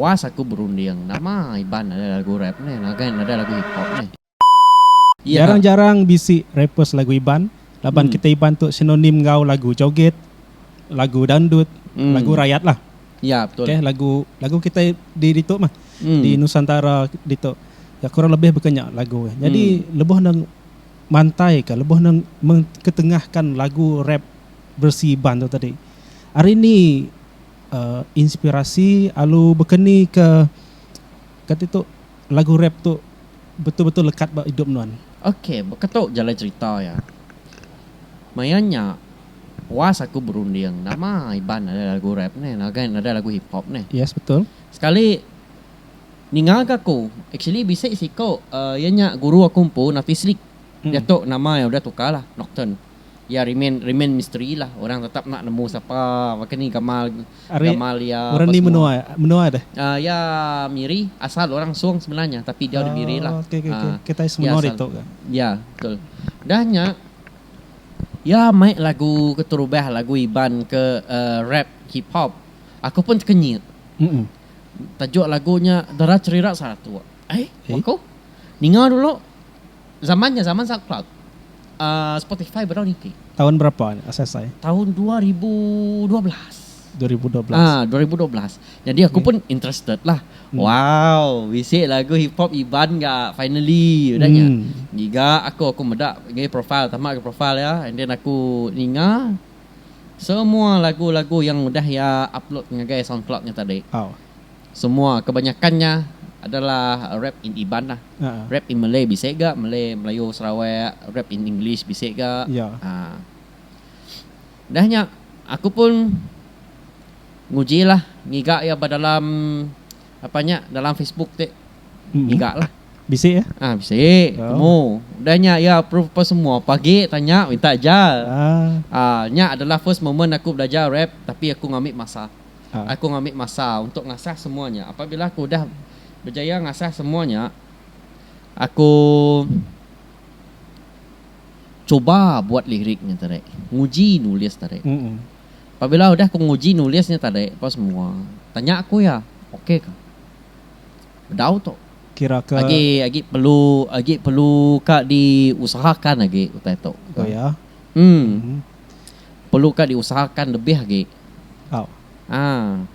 Puas aku berunding. Nama Iban nadai lagu rap nih, ngagai nadai lagu hip hop nih. Jarang jarang bisi rapper selagu Iban, laban kitai Iban tu sinonim enggau lagu joget, lagu dangdut, lagu rayat lah. Ok lagu lagu kitai di ditu mah, di nusantara ditu ya kurang lebih baka nya lagu nya. Jadi lebuh ne mantai ka lebuh ne mengketengahkan lagu rap beresi Iban tu tadi. Hari ni. inspirasi alu bekeni ke kati tu lagu rap tu betul betul lekat ba idup nuan. Ok baka tu jalai cerita iya. Maya nya puas aku berunding nama Iban nadai lagu rap ne ngagai nadai lagu hip hop ne. Yes betul. Sekali ninga ga aku actually bisi siku iya nya guru aku empu Nafislik. Iya tu nama iya udah tukar lah Nocturne. iya remain remain misteri lah orang tetap enda nemu sapa baka ni gamal gamal iya apa semua aaa iya miri asal orang song semilan nya tapi dia udah miri lah aaa iya betul dah nya iya mai lagu keterubah lagu iban ke rap hip hop aku pun tekenyit tajuk lagu nya dara cherira satu ai baka ninga dulu. Zaman nya zaman Soundcloud. Uh, Spotify bedau niti. Taun berapa nya asai asai? Taun dua ribu dua belas. Dua ribu dua belas. Ah, dua ribu dua belas. Jadi aku pun interested lah. Hmm. Wow, bisi lagu hip hop Iban ga finally udah nya. Hmm. Giga aku aku meda ngai profile tamak ke profile ya. And then aku ninga semua lagu-lagu yang udah ya upload ngagai Soundcloud nya tadi. Oh. Semua kebanyakan nya adalah rap in Iban lah. Rap in Malay bisi ga, Malay, Melayu, Sarawak, rap in English bisi ga. Haa. Udah nya aku pun nguji lah ngiga iya ba dalam apa nya dalam Facebook ti. Ngiga lah. Bisi eh? Haa bisi, temu. Udah nya iya approve apa semua, pagi tanya minta ajar. Haa nya adalah first moment aku belajar rap tapi aku ngambi masa. Aku ngambi masa untuk ngasah semua nya. Apabila aku udah bejaya ngasah semua nya, aku cuba buat lirik nya tadi, nguji nulis tadi. Apabila udah aku nguji nulis nya tadi apa semua, tanya aku iya, okey ka? Bedau tu. Agi agi perlu agi perlu ka diusahakan agi utai tu. Em. perlu ka diusahakan lebih agi. Au. Haa.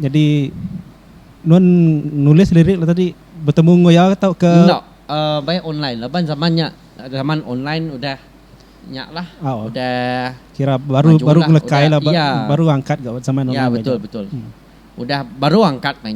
Nyadi nuan nulis lirik le tadi betemu enggau iya ka tauka? Enda. Uh, baik online laban zaman nya zaman online udah nya lah. Au. Udah kira baru baru ngelekai lah, ba, iya. baru angkat ga zaman online. Iya betul betul. Hmm. Udah baru angkat mainnya.